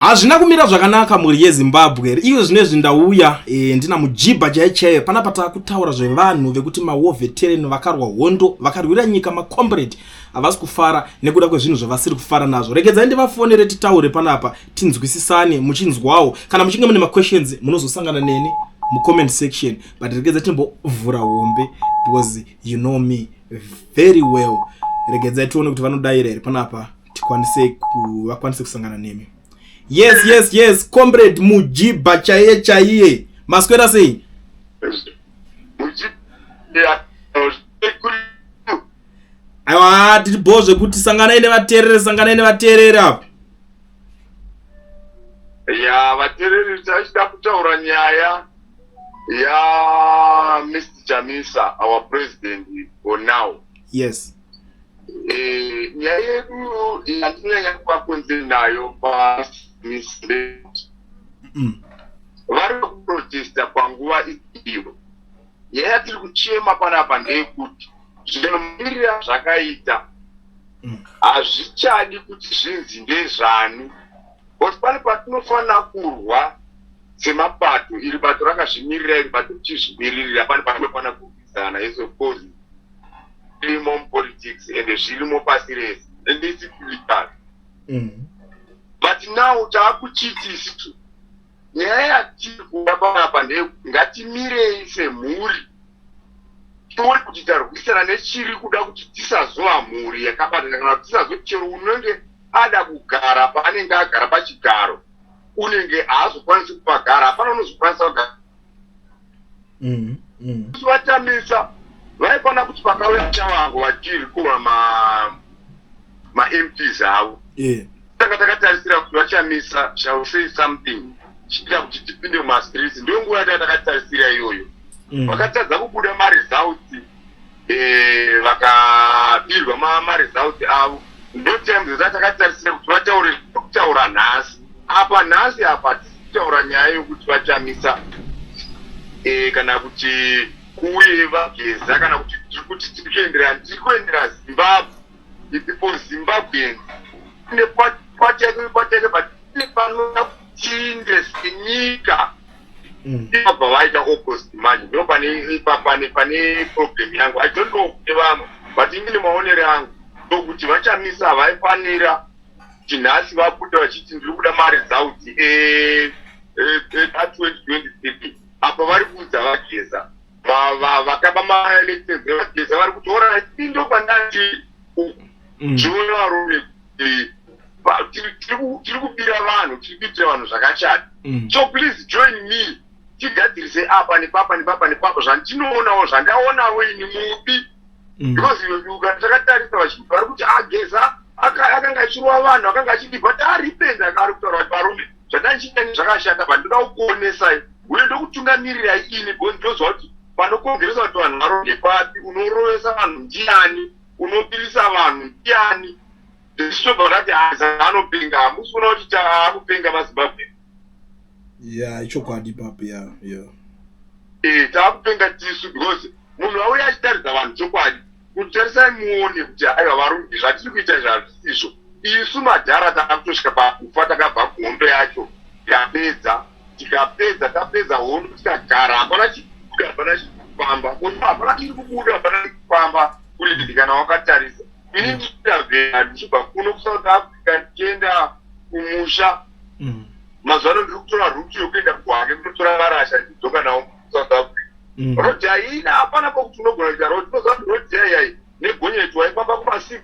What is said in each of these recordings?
Hazvina kumira zvakanaka mhuri yeZimbabwe iyo zvine zvindauya e, eh, ndina mujibha chaichaiyo pana patakutaura zvevanhu vekuti mawar veteran vakarwa hondo vakarwira nyika macombrade havasi kufara nekuda kwezvinhu zvavasiri kufara nazvo regedzai ndivafonere titaure panapa tinzwisisane muchinzwawo kana muchinge mune maquestions munozosangana neni mucomment section but regedza timbovhura hombe because you know me very well regedzai tione kuti vanodaira here panapa tikwanise ku vakwanise kusangana nemi yes yes yes comrade mujiba chaiye chaiye maswera sei aiwa tiri bho zvekuti sanganai nevateerere sanganai nevateerere apa ya vateereri tachida kutaura nyaya ya mr chamisa our president for now yes Eh, nyaya yedu yatinyanya kuva kunze nayo pamisbe mm. vari kuprotesta panguva iyo nyaya yatiri kuchema panapa ndeyekuti zvinomirira zvakaita mm. hazvichadi kuti zvinzi ndezvani but pane patinofanira kurwa semapato iri bato rakazvimirira iri bato tichizvimiririra pane patinofanira kurwa Kana izo kozi irimo mupolitics ende zvirimo pasi rese ende isi political mm. but now taakuchiti isitu nyaya yatiri kuda panapa ndeyekuti ngatimirei semhuri tione kuti tarwisana nechiri kuda kuti tisazova mhuri yakabatana kana kuti tisazo chero unenge ada kugara paanenge agara pachigaro unenge haazokwanisi kupagara hapana unozokwanisa kugara mm, mm. vatamisa vaikwana kuti pakauya chavangu vachiri kuma mamps avo yeah. tanga takatarisira kuti vachamisa shall say something chiita kuti tipinde mumastreets ndiyo nguva yatanga takatarisira iyoyo mm. vakatadza kubuda maresults eh, vakapirwa e, ma, ma results avo ndotimes zaa takatarisira kuti vataure kutaura nhasi apa nhasi apa tisitaura nyaya yokuti vachamisa e, kana kuti kuuye vageza kana kuti tiri kuti tiri kuendera tiri kuendera zimbabwe ipipo zimbabwean ne kwateke kwateke but ne panoa chinde sinyika mm. ibva vaita opposite manje ndo pane pane problem yangu i don't know kuti vamwe but imi nemaonere angu ndokuti vachamisa vaifanira kuti nhasi vabuda vachiti ndiri kuda mari dzauti e, e, e, twenty twenty three apa vari kuudza vageza vakaba maelections vageza vari kutora ndo pandati mm. zviona varume tiri kubira vanhu tiri kuitira vanhu zvakachata mm. so please join me tigadzirise apa nepapa nepapa nepapa zvandinoonawo zvandaonawo ini mubi mm. because ukatakatarisa vachinhu vari kuti ageza ah, akanga achirova vanhu akanga achidi but aripenda ah, ari kutaura kuti varume zvandandichiita ni zvakashata but ndoda kukuonesai uye ndokutungamirirai ini because ndozva kuti panokongeresa kuti vanhu varonge papi unorovesa vanhu ndiani unopirisa vanhu ndiani zvichitobva zvati haza anopenga hamusi kuona kuti taakupenga mazimbabwe ya ichokwadi papi ya ya ee eh, taakupenga tisu because munhu vauya achitaridza vanhu chokwadi kuti tarisai muone kuti aiwa varungi zvatiri kuita izvi hazvisizvo isu madhara takutosvika pakufa takabva kuhondo yacho yapedza tikapedza tapedza hondo tikagara hapana chikubuda hapana chikufamba kono hapana chiri kubuda hapana chiri kufamba kureviti kana wakatarisa ini ndichida vhera ndichibva kuno kusouth africa ndichienda kumusha mm. mazuva ano ndiri kutora ruti yokuenda kuhake kunotora varasha ndidzoka nawo kusouth africa mm. roti haina hapana pokuti unogona kuita roti unoziva kuti roti yaiyaii negonyeti waifamba kuma 6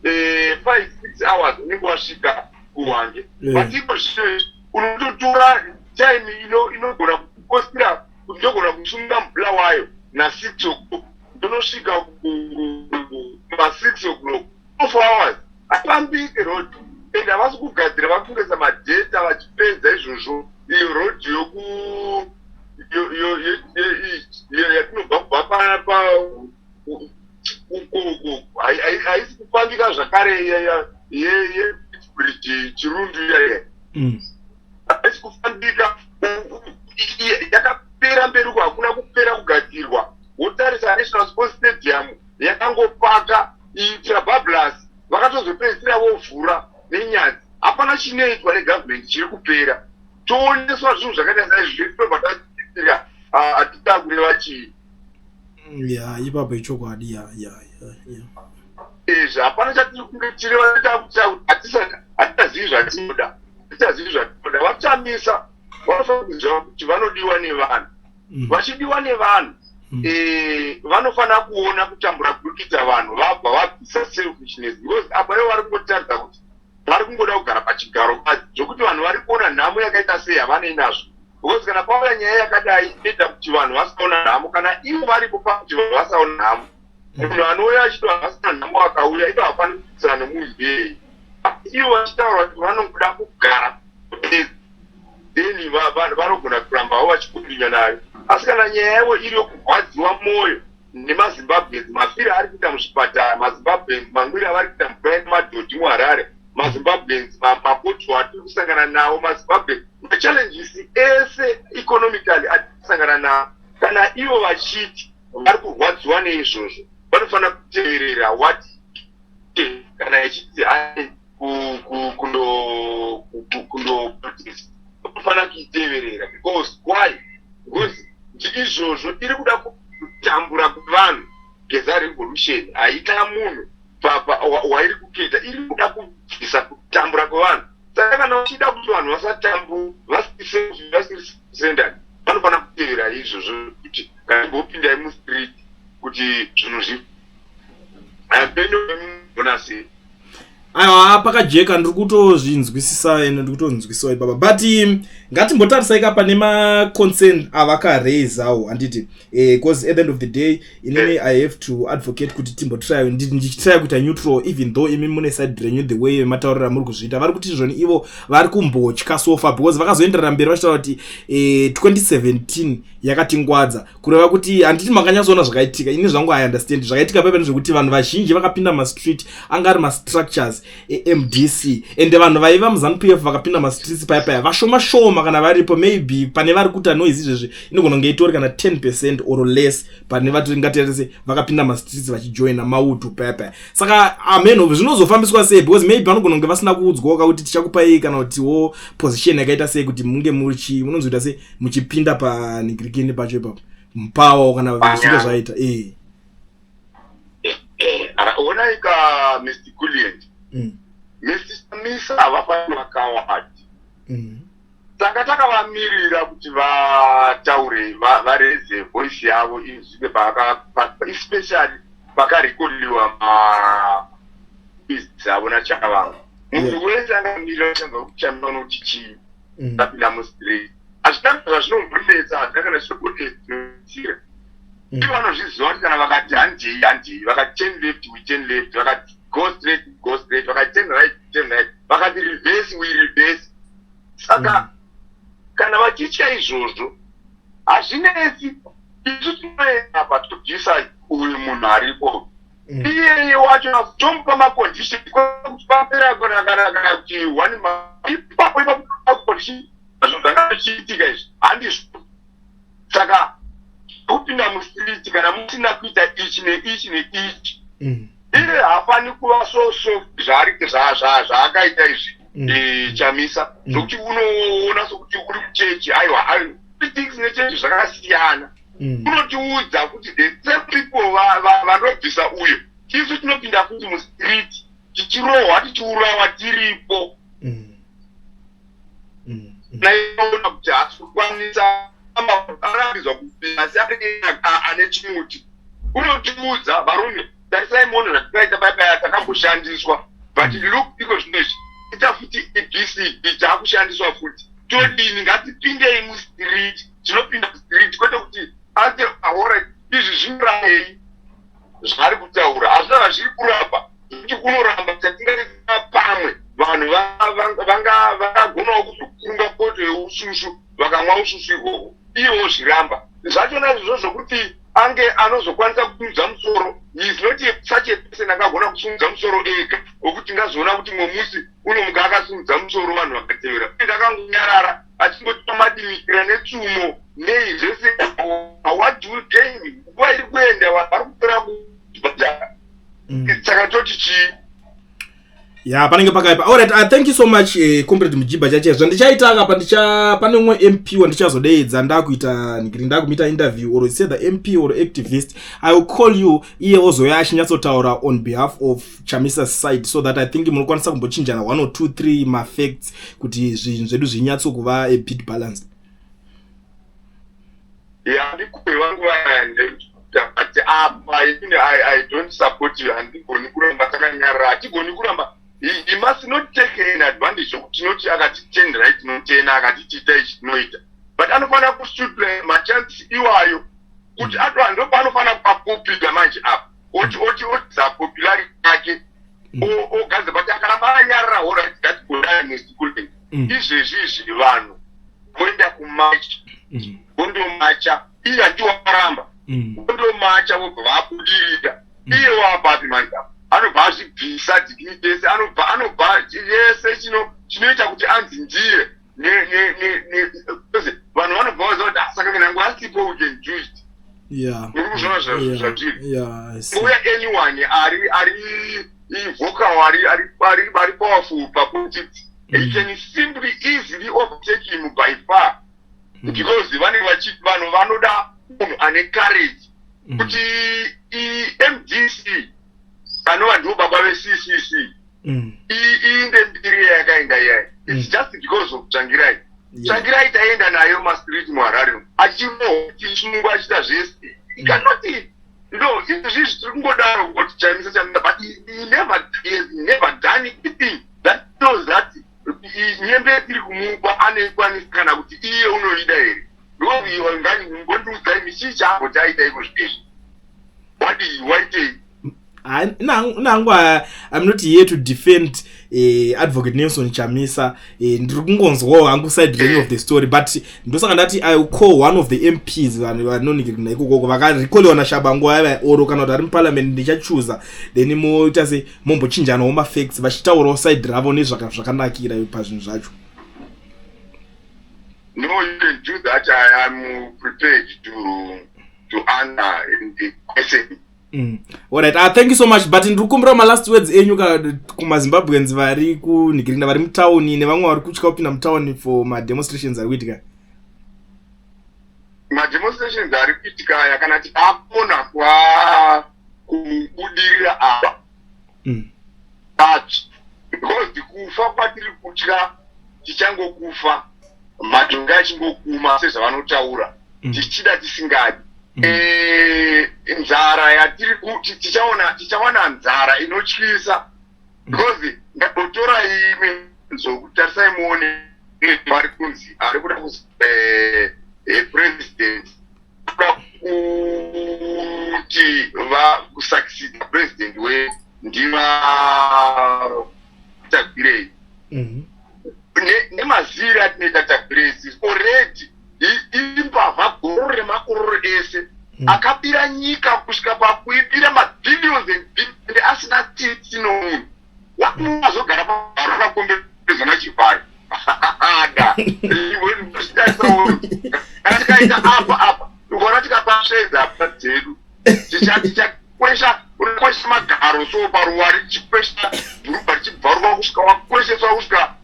eh, 5 6 hours unenge wasvika kuhwange eh. but iko zvino unototora time ino inogona kukosira kuti ndogona kusunga mubla wayo na 6 o'clock ndonosvika kuma 6 o'clock two four hours hapambike road and havasi kugadzira vari kungesa madheta vachipedza izvozvo iyo road yoku yatinobva kubva pa haisi kufambika zvakare yebridge chirundi iyaye mm. haisi kufambika yakapera mberi uko hakuna kupera kugadzirwa wotarisa national sports stadium yakangopaka itrabablas vakatozopedzisira vovhura nenyadzi hapana chinoitwa negovernment chiri kupera tooneswa zvinhu zvakaita saizvi zviritobataitika ah, atitakure vachii ya ipapo ichokwadi ya ya ya izvi hapana chatiri kunge tiri vanoita kuita kuti hatichazivi zvatinoda hatichazivi zvatinoda vatamisa vanofanira kuziva kuti vanodiwa nevanhu mm. vachidiwa nevanhu mm. eh, vanofanira kuona kutambura kurikidza vanhu vabva vabvisa selfishness because apa ivo vari kungotaridza kuti vari kungoda kugara pachigaro mukadzi zvekuti vanhu vari kuona nhamo yakaita sei havanei nazvo because kana pauya nyaya yakadai inoita kuti vanhu vasaona nhamo kana ivo varipo pakuti vanhu vasaona nhamo mm. munhu anouya achiti vanhu vasina nhamo akauya ivo hapani kuitisana nemunhu mbei ivo vachitaura kuti vanongoda kugara then vanhu vanogona kurambavo vachikundinya nayo asi kana nyaya yavo iri yokurwadziwa mwoyo nemazimbabweans mafiri ari kuita muzvipatara mazimbabweans mangwiri avari kuita mukurani madhodhi muharare mazimbabweans mapotwo atiri kusangana nawo mazimbabweans machallenges ese economically atiri kusangana nawo kana ivo vachiti vari kurwadziwa neizvozvo vanofanira kuteverera wati kana ichiti hai kundofanira kuiteverera because why because izvozvo iri kuda kutambura kuvanhu geza revolution haita munhu wairi kuketa iri kuda kubvisa kutambura kwevanhu saka kana uchida kuti vanhu vasatambu vasisendani vanofanira kutevera izvozvo kuti kana imbopindai mustreet kuti zvinhu zvi aiwa pakajeka ndiri kutozvinzwisisa ende ndiri kutonzwisiwa ipapa but um, ngatimbotarisai ka pane maconcern avakaraisawo handiti bcause eh, at the end of the day inini eh. i have to advocate kuti timbotrya ndichitrya kuita neutral even though imi mune side renyu the way mataurira muri kuzviita vari kuti zvoni ivo vari kumbotya sofa because vakazoenderera mberi vachitaura kuti 2017 eh, yakatingwadza kureva kuti handiti makanyatsoona zvakaitika ini zvangu i understand zvakaitika paiva nezvekuti vanhu vazhinji vakapinda mastreet anga ari mastructures emdc ende vanhu vaiva muzanu p f vakapinda mastreets paya paya vashoma shoma kana varipo maybe pane vari kuita noise izvezvi inogona kunge itori kana 10 percent or less pane vatiringatirese vakapinda mastreets vachijoina maudu paya paya saka amenhov ah, zvinozofambiswa sei because maybe vanogona kunge vasina kuudzwawo kakuti tichakupai kana kutiwo position yakaita sei kuti munge muchi munonzoita sei muchipinda panigirikini pacho ipapo mupawo kana zvinge zvaita ee eh, eh, ah, onaika mr gulient mm. mr samisa havafani vakawati mm. tanga takavamirira kuti vataure vareze voice yavo izvike especially pakarekodiwa mabizi avo nachakavanga munhu wese angamirira changa kuchamira unoti chii mm. ndapinda mustreet hazvina zvazvinombonetsa hazvina kana zvinombonetsira mm. ivo vanozviziva kuti kana vakati handei handei vakati ten left we ten left vakati go straight go straight vakati ten right ten right vakati reverse we reverse saka mm. kana vachitya izvozvo hazvinetsi isu tinoenda apa tobvisa uyu munhu aripo mm. iyeye wacho akutomupa macondition kuti papera kunakanakana kuti one ipapo ipapomacondition zvo zvanga zvichiitika izvi handizvo saka kupinda mustreet kana musina kuita ichi neichi neichi mm. iye hafani kuva so so zvaakaita izvi mm. e, chamisa zvokuti unoona sokuti uri kuchechi aiwa things nechechi zvakasiyana mm. unotiudza kuti the same people vanobvisa uyo tisu tinopinda futi mustreet tichirohwa tichiurawa tiripo mm. Mm. naiona kuti hasi kukwanisa arambizwa kupinda asi ane chimuti unotiudza varume tarisai mono zvatikaita baibaya takamboshandiswa but mm. look iko zvino izvi ita futi ebcb taakushandiswa futi todini ngatipindei mustreet tinopinda spirit kwete kuti ate aora izvi zvinorayei zvaari kutaura hazvina zvazviri kuramba zvekuti kunoramba chatingaita pamwe vanhu vangagonawo kuzokunga poto yeususu vakamwa ususu ihwohwo ivo zviramba zvachona izvozvo zvokuti ange anozokwanisa kusimudza musoro is not such a person angagona kusimudza musoro ega wekuti ngazoona kuti mumwe musi unomuka akasimudza musoro vanhu vakatevera ndakangonyarara achingoti pamadimikira netsumo nei zvese what will gain nguva iri kuenda vanhu vari kupera kubhadhara mm. saka toti chii ya panenge pakaipa allright uh, thank you so much eh, comrade mujiba chache zvandichaita kapa ndicha pane umwe mp wandichazodeedza ndakuita ndiri ndakumita interview or say the mp or activist i will call you iye ozouya achinyatsotaura on behalf of chamisa side so that i think munokwanisa kumbochinjana one or two three mafacts kuti zvinhu zvedu zvinyatso kuva a bit balanced ya ndikupi vangu vayandeati apa ini i don't support you handigoni kuramba takanyarara hatigoni kuramba he must not take an advantage yokuti tinoti akatitendera itinotena akatitiita ichi tinoita but anofanira kusutra machansi iwayo kuti mm. atovanhu ndopaanofanira kupakupiga manje apa ochiotsa popularity yake mm. ogadza but akaramba anyarira orit that kudanesikulen mm. izvezvi izvi vanhu voenda kumacha mm. vondomacha iye andiwakaramba vondomacha vobva vabudirira iye waapapi manja anobva azvibvisa dignity yese anobva anobva yese chinoita kuti anzi ndiye vanhu vanobva vaziva kuti asaka ah, kana yangu asipo we can do it yeah muri kuzvona zvatiri yeah i see uya anyone ari ari vocal ari ari ari ari powerful pa politics mm. it can simply easily overtake him by far mm. because vane vachi vanhu vanoda munhu ane courage mm. kuti i mdc anova ndiwo baba ve ccc mm. iinde mbiri yayakaenda iyaya mm. its just because of tsvangirai tsvangirai taienda nayo mastreet muharare achiroisungwa achiita zvese ikanoti mm. no izvi zvii zvitiri kungodaro kuti chamisa chamisa but he never has never done anything that knows that nyembe iri kumupa anoikwanisa kana kuti iye unoida here ndoviwangandiudzai michii chaambo chaita iko zvitezvi wadii waitei nangu im not here to defend eh, advocate nelson chamisa eh, ndiri kungonzwawo hangu side ring of the story but ndosaka ndati i call one of the mps vanonigirina ikokoko vakarekolewa nashabangu vaiva oro kana kuti ari muparliament ndichachuza then moita se mombochinjanawo mafacts vachitaurawo side ravo nezvakanakira pazvinhu zvacho no you can do that i am prepared to to answer the question Mm. Alright, uh, thank you so much but ndiri kumbira malast words enyu ka kumazimbabweans vari kunhikirinda vari mutauni nevamwe vari kutya kupinda mutauni for mademonstrations ari kuitika mademonstrations ari kuitika aya kana tiapona kwa kubudirira apa mm. but because kufa kwatiri kutya tichangokufa matonge achingokuma sezvavanotaura mm. tichida tisingadi mm. eh, nzara yatiri kuti tichaona tichawana nzara inotyisa mm. because ndabotora imwe zokutarisai muone vari kunzi ari kuda kuzi eh, eh, president kuti vakusakisida president we ndivatagwirei mhm. nemaziviro atinoita tagwirei sisi already imbavha goro remakororo ese mhm. akabira nyika kusvika pakuibira mabillions and billions asina tsitsi nomunhu wazogara paarona kombe zona chivharo ada kana tikaita apa apa ukaona tikapasvedza apa dzedu tichakwesha unokwesha magaro so paruwa richikwesha dhuruba richibvaruka kusvika wakwesheswa kusvika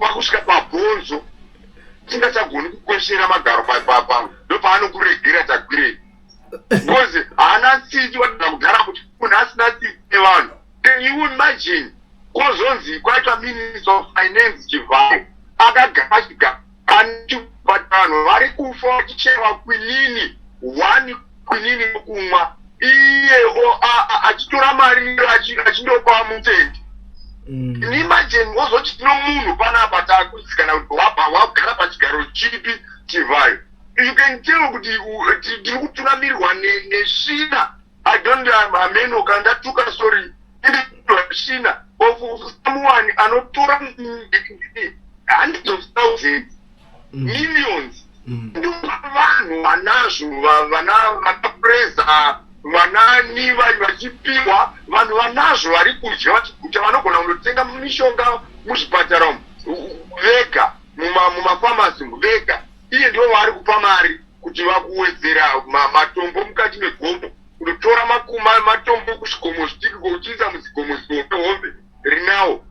wakusvika pabhonzo tingachagoni kukweshera magaro papa ndopaanokuregera tagwirei because haana tsiti wadana kugara kuti munhu asina tsiti nevanhu can you imagine kozonzi kwaitwa minister of finance chivhayo akagara chigara anichivatanhu vari kufa vachicheva kwinini one kwinini yokumwa iye achitora mari achindopa mutendi mm. imagine wozoti tino munhu panapa takutsikana kuti wabva wagara pachigaro chipi chivhayo you can tell kuti tiri kuturamirwa nesvina i don't amenoka ndatuka sorry ndinoshina of someone anotora hundreds of thousands mm. millions mm. vanhu vanazvo vana vanapreza vanani vachipiwa vanhu vanazvo vari kudya vachiguta vanogona kunotenga mishonga muzvipatara umu vega mumafamasi umu vega iye ndivo vaari kupa mari kuti vakuwedzera matombo mukati megomo kunotora makuma matombo kuzvikomo zvidiki kouchiisa muzikomo zihombe hombe rinawo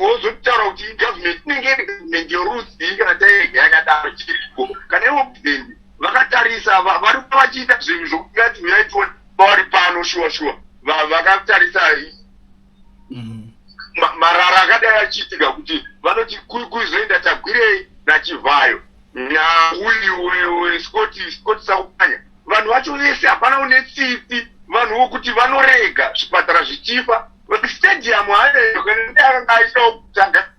wozotaura kuti igovernment inenge iri government yorudzii kana tairega yakadaro chiriko kana ivo president vakatarisa vari kuva vachiita zvinhu zvokuti ngati huyai tione pavari pano shuwa shuwa vakatarisa mm. marara akadai achiitika kuti vanoti kuzoenda tagwirei nachivhayo nauyu scoti scoti sakupanya vanhu vacho vese hapana une tsitsi vanhu vokuti vanorega zvipatara zvichifa stadium aeakangaaisaokutanga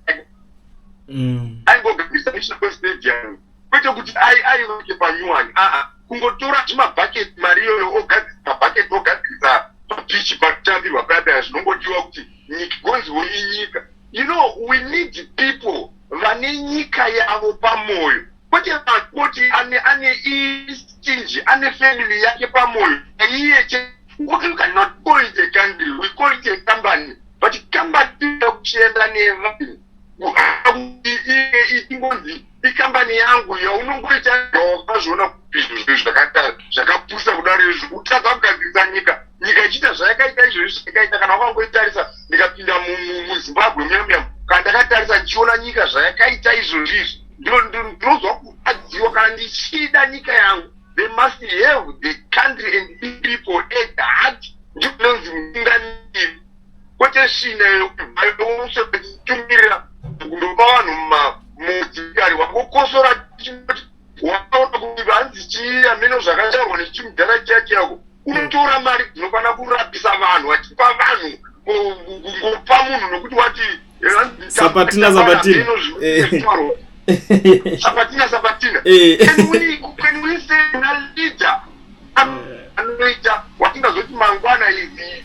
mm. aingogambisa national stadium kwete kuti ai ai vake panyuwani aa kungotora chimabhaketi mari iyoyo ogadzirisa bhaketi ogadzirisa papichi pakutambirwa payapaya zvinongodiwa kuti nyika gonziwo inyika you know we need people vane nyika yavo pamwoyo kwete vakoti ane ane istinji ane family yake pamwoyo aiye che kuti you cannot call it a country we call it a company but company inoda kuchienda nevanhu kuti ingonzi ikambani yangu yaunongoita wazviona kuti zvinhu zvakaita zvakapusa kudaro izvi kutadza kugadzirisa nyika nyika ichiita zvayakaita izvozvi zvayakaita kana wakangoitarisa ndikapinda muzimbabwe muyamuyam kana ndakatarisa ndichiona nyika zvayakaita izvozvi izvi ndinonzwa kurwadziwa kana ndichida nyika yangu they must have the country and people at heart ndikunonzi mutungamiri kwete shinda yekubayouswa ichitumira kundopa vanhu mudzikari wakokosora chinoti wakaona kuti vanzi chii ameno zvakataurwa nechimudhara chiya chiyako unotora mari dzinofanira kurapisa vanhu vachipa vanhu kungopa munhu nokuti wati sapatina sapatina sapatina sapatina anoita watingazoti mangwana izii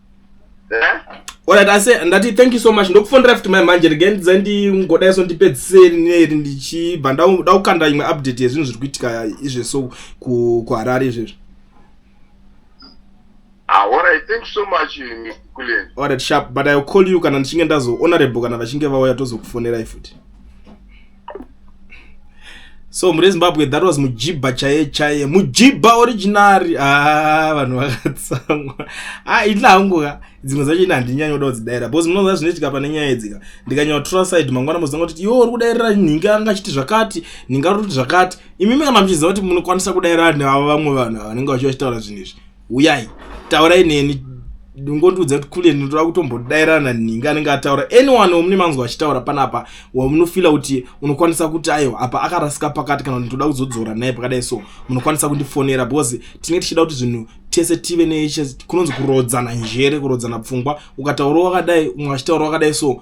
Alright, I say ndati thank you so much. Ndokufonera futi mai manje again dzendi ngoda yeso ndipedzise neri ndichibva ndauda kukanda imwe update yezvinhu zviri kuitika izve so ku kuHarare izvezvi. Ah, all right, thank you so much Mr. Kulen. All right, sharp, but I will call you kana ndichinge ndazo honorable kana vachinge vauya tozokufonerai futi. so mune zimbabwe that was mujibha chaiye chaiye mujibha originari haa ah, vanhu vakatsamwa a ah, ini hangu ka dzimwe zacho ini handinyanya kuda kudzidaira because munoza zvinoitika pane nyaya idzika ndikanyanya kutora side mangwana mozanga kuti iwo uri kudairira nhinga anga achiti zvakati nhinga uri kuti zvakati imimi kana muchiziva kuti munokwanisa kudairira neavo vamwe vanhu ava vanenge vachiva chitaura zvinhu izvi huyai taurai neni ndingondiudza kuti kule ndinotoda kutombodairana nhingi anenge ataura anyone wamune manzwa achitaura panapa wamunofila kuti unokwanisa kuti ayo apa akarasika pakati kana ndinotoda kuzodzora naye pakadai so munokwanisa kundifonera because tinenge tichida kuti zvinhu tese tive nekunonzi kurodzana njere kurodzana pfungwa ukataura wakadai umwe achitaura wakadai so